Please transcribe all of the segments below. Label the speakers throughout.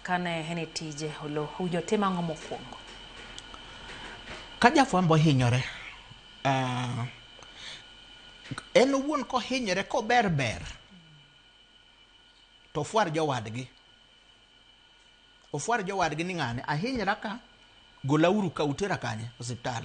Speaker 1: Kane en e tije, Oloo owinjo otim ang'o mokwongo?
Speaker 2: Ka jafwambo ohinyore, ah, en owuon kohinyore kober ber to ofwar jowadgi ofwar jowadgi ni ng'ane ahinyra ka golauru ka utera kanye osiptal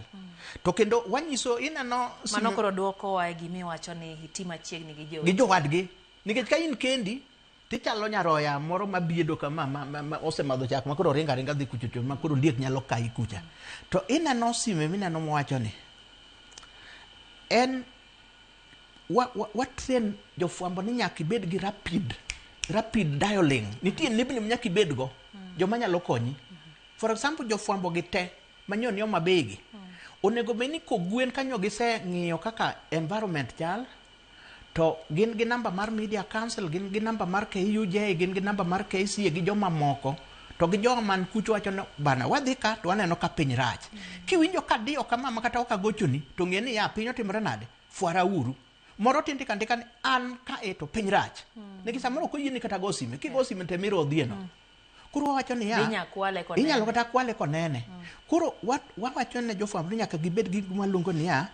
Speaker 2: to kendo wanyiso ineno sime- Mano koro dwokowa
Speaker 1: e gima iwacho ni iti machiegni gi gi joote. jowadgi
Speaker 2: nikech ka in kendi Tichalo nyaroya moro ma biedo ka ma, ma, ma, ma osemadho chak ma koro ringa ringa dhi kucho to ma koro liet nyalo kayi kucha. To ineno sime mineno mowacho ni en wa, wa, wa train jofwambo ni nyaka ibed gi rapid rapid dialing. Nitie nembni ma nyaka ibed go joma nyalo konyi. For example jofwambo gi te manyo ni Homa Bay gi onego bed ni kogwen kanyo giseng'iyo kaka environment chal To gin gi namba mar Media Council, gin gi namba mar KUJ, gin gi namba mar KCA gi joma moko. To gi joma man kucho wacho ni bana wadhi ka to waneno ka piny rach. Kiwinjo ka diyo kama ma kata ok agochoni to ng'e ni ya piny otimore nade? Fwara uru. Moro tin ndika ndika ni an ka e to piny rach. Nikech samoro ok oyieni kata go sime. Kigo sime to ema irodhieno. Koro wawacho niya, Be inya kwale konene? inyalo kata kwale konene. Koro wa- wawacho ne jofwambo ni nyaka gibed gi gima luongo niya,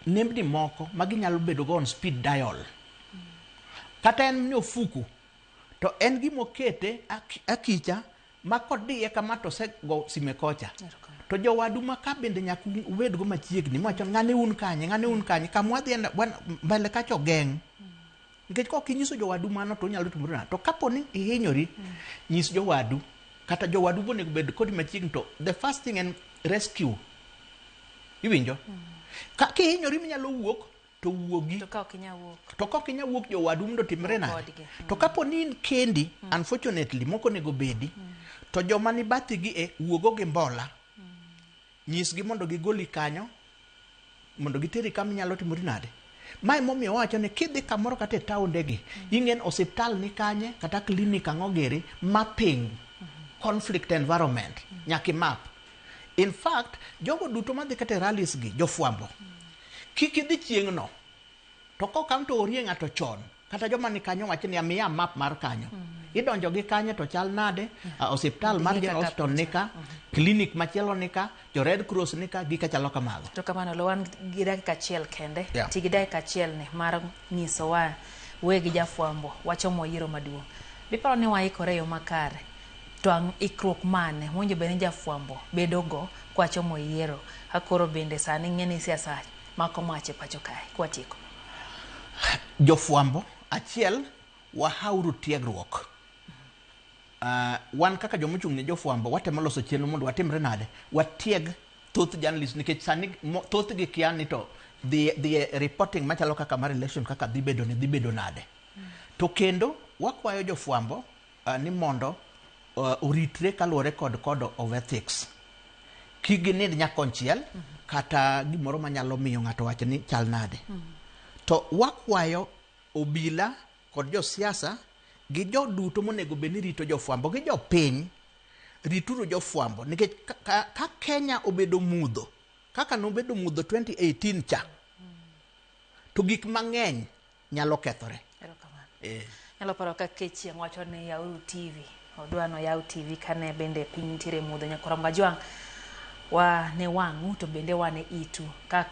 Speaker 2: nembni moko ma ginyalo bedo go on speed dial. Kata en ni ofuku, to en gima okete ak- akicha ma kodiye kama to osego sime kocha. To jowadu ma ka bende nyaka un- ubed go machiegni, mwacho ng'ane un kanye, ng'ane un kanye, kama wadhi en- wan- mbele kacha ogeng'. Nikech kok inyiso jowadu mano to onyalo timore nade? To kapo ni ihinyori, nyis jowadu kata jowadu bo onego bed kodi machiegni to the first thing en rescue. Iwinjo? Ka kihinyori minyalo wuok to wuogi. To ka ok inyal wuok. To kok inyal wuok jowadu mondo otimre nade? Kodgi. To kapo ni in kendi, unfortunately, moko onego bedi, to joma ni bathigi e wuogo gi mbola. Nyisgi mondo gigoli kanyo mondo giteri kama inyalo timori nade. Mae momiyo wawacho ni kidhi kamoro kata e taondegi, ing'en osiptal ni kanye kata klinik ang'o giri, mapping conflict environment nyaka imap. In fact, jogo duto madhi kata e rallies gi, jofwambo, kik idhi chieng'no. To kokamno to orie ng'ato chon. kata joma ni kanyo wacho ni amiya map mar kanyo mm. idonjo gi kanyo to chal nade mm. uh, osiptal mar General Hospital nika mm. clinic machielo nika jo Red Cross nika gika chalo kamago to kamano lo wan
Speaker 1: gi dakika achiel kende yeah. ti gi dakika achiel ni mar nyiso wa we gi jafwambo wacho mo yiro maduong biparo ni waikore yo makare to ang' ikruok mane monjo bende jafwambo bedogo kwacho mo yiero akoro bende sani ng'e ni siasa mako mach e pacho kae kwatieko. Jofwambo
Speaker 2: achiel wahauru tiegruok. Uh, wan kaka joma ochung' ne jofwambo watemo loso chenro mondo watimre nade watieg thoth journalist nikech sani mo- thothgi kia ni to dhi dhi e reporting machalo kaka mar election kaka dhi bedo ni dhi bedo nade to kendo wakwayo jofwambo ni mondo oritre kaluwore kod code of ethics. Kik ginind nya konchiel kata gimoro manyalo miyo ng'ato wach ni chal nade. To wakwayo obila kod josiasa gi jo duto monego bed ni rito jofwambo gi jopiny, rituru jofwambo nikech ka Kenya obedo mudho kaka nobedo mudho 2018 cha to gik mang'eny nyalo kethore. Eh.
Speaker 1: Nyalo paro ka kechieng' wacho ni yauru TV. Odwa no yaw TV kane bende piny nitiere mudho nyakoro majwang' wa ne wang'u to bende wa ne itu. Kaka